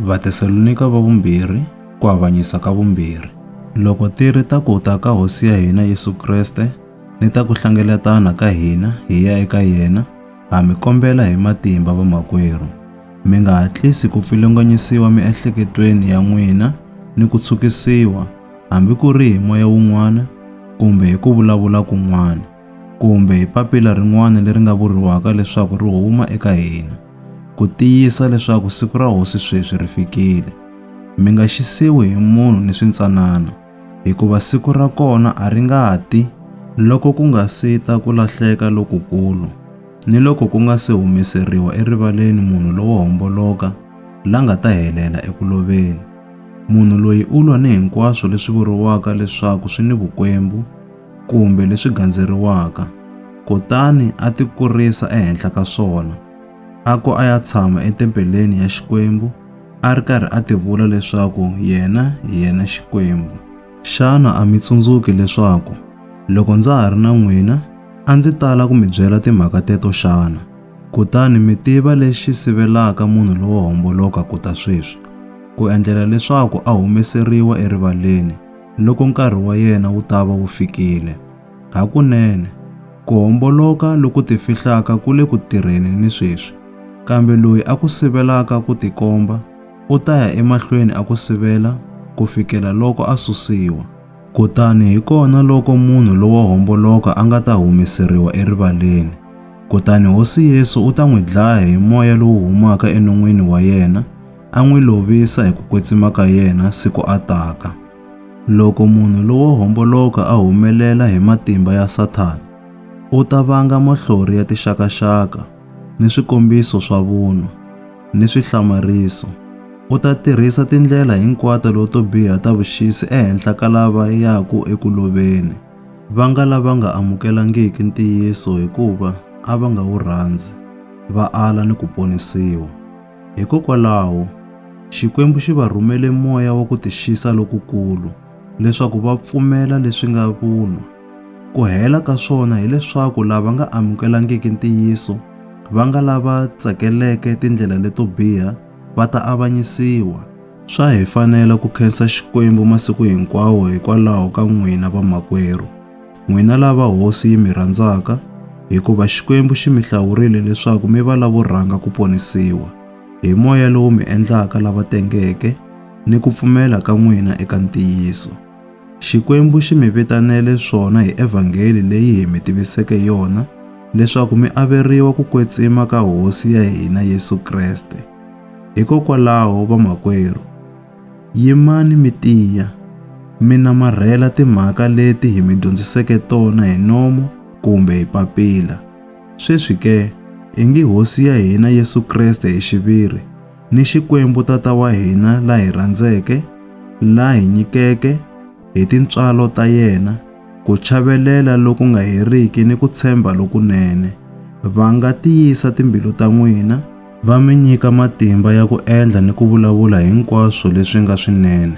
Vatesalonika va vumbirhi, ku avanyisa ka vumbirhi. Loko ti ri ta ku ta ka Hosi ya hina Yesu Kreste ni ta ku hlengeletana ka hina hi ya eka yena, ha mi kombela hi matimba vamakwerhu, mi nga hatlisi ku pfilunganyisiwa miehleketweni ya n'wina ni ku tshukisiwa, hambi ku ri hi moya wun'wana kumbe hi ku vulavula kun'wana. kumbe hi papila rin'wana leri nga vuriwaka leswaku ri huma eka hina, ku tiyisa leswaku siku ra Hosi sweswi ri fikile. Mi nga xisiwi hi munhu ni swintsanana, hikuva siku ra kona a ri nga ti loko ku nga si ta ku lahleka lokukulu, ni loko ku nga si humeseriwa erivaleni munhu lowo homboloka la nga ta helela eku loveni. Munhu loyi u lwa ni hinkwaswo leswi vuriwaka leswaku swi ni vukwembu, kumbe leswi gandzeriwaka, kutani a ti kurisa ehenhla ka swona. A ku a ya tshama etempeleni ya Xikwembu, a ri karhi a ti vula leswaku yena hi yena Xikwembu. Xana a mi tsundzuki leswaku loko ndza ha ri na n'wina a ndzi tala ku mi byela timhaka teto xana? Kutani mi tiva lexi sivelaka munhu lowo homboloka ku ta sweswi, ku endlela leswaku a humeseriwa erivaleni, loko nkarhi wa yena wu ta va wu fikile. Hakunene, ku homboloka loku tifihlaka ku le ku tirheni ni sweswi, kambe loyi a ku sivelaka ku tikomba u ta ya emahlweni a ku sivela ku fikela loko a susiwa. Kutani hi kona loko munhu lowo homboloka a nga ta humeseriwa erivaleni, kutani Hosi Yesu u ta n'wi dlaya hi moya lowu humaka enon'wini wa yena, a n'wi lovisa hi ku kwetsima ka yena siku a taka. Loko munhu lowo homboloka a humelela hi matimba ya Sathana, u ta vanga mahlori ya tixakaxaka ni swikombiso swa vunwa ni swihlamariso. U ta tirhisa tindlela hinkwato leto biha ta vuxisi ehenhla ka lava yaka eku loveni, va nga lava nga amukelangiki ntiyiso hikuva a va nga wu rhandzi, va ala ni ku ponisiwa. Hikokwalaho, Xikwembu xi va rhumele moya wa ku tixisa lokukulu leswaku va pfumela leswi nga vunwa. Ku hela ka swona hileswaku lava nga amukelangiki ntiyiso, va nga lava tsakeleke tindlela leto biha, va ta avanyisiwa. Swa hi fanela ku khensa Xikwembu masiku hinkwawo hikwalaho ka n'wina vamakwerhu. N'wina lava Hosi yi mi rhandzaka, hikuva Xikwembu xi mi hlawurile leswaku mi va lavo rhanga ku ponisiwa, hi moya lowu mi endlaka lava tengeke ni ku pfumela ka n'wina eka ntiyiso. Xikwembu xi mi vitanele swona hi evhangeli leyi hi mi tiviseke yona, leswaku mi averiwa ku kwetsima ka Hosi ya hina Yesu Kreste. Hikokwalaho, vamakwerhu, Yimani mi tiya, mi namarhela timhaka leti hi mi dyondziseke tona hi nomo kumbe hi papila. Sweswi ke, i ngi Hosi ya hina Yesu Kreste hi xiviri, ni Xikwembu Tata wa hina la hi rhandzeke, la hi nyikeke, hi tintswalo ta yena, ku chavelela loku nga heriki ni ku tshemba lokunene, va nga tiyisa timbilu ta n'wina, va mi nyika matimba ya ku endla ni ku vulavula hinkwaswo leswi nga swinene.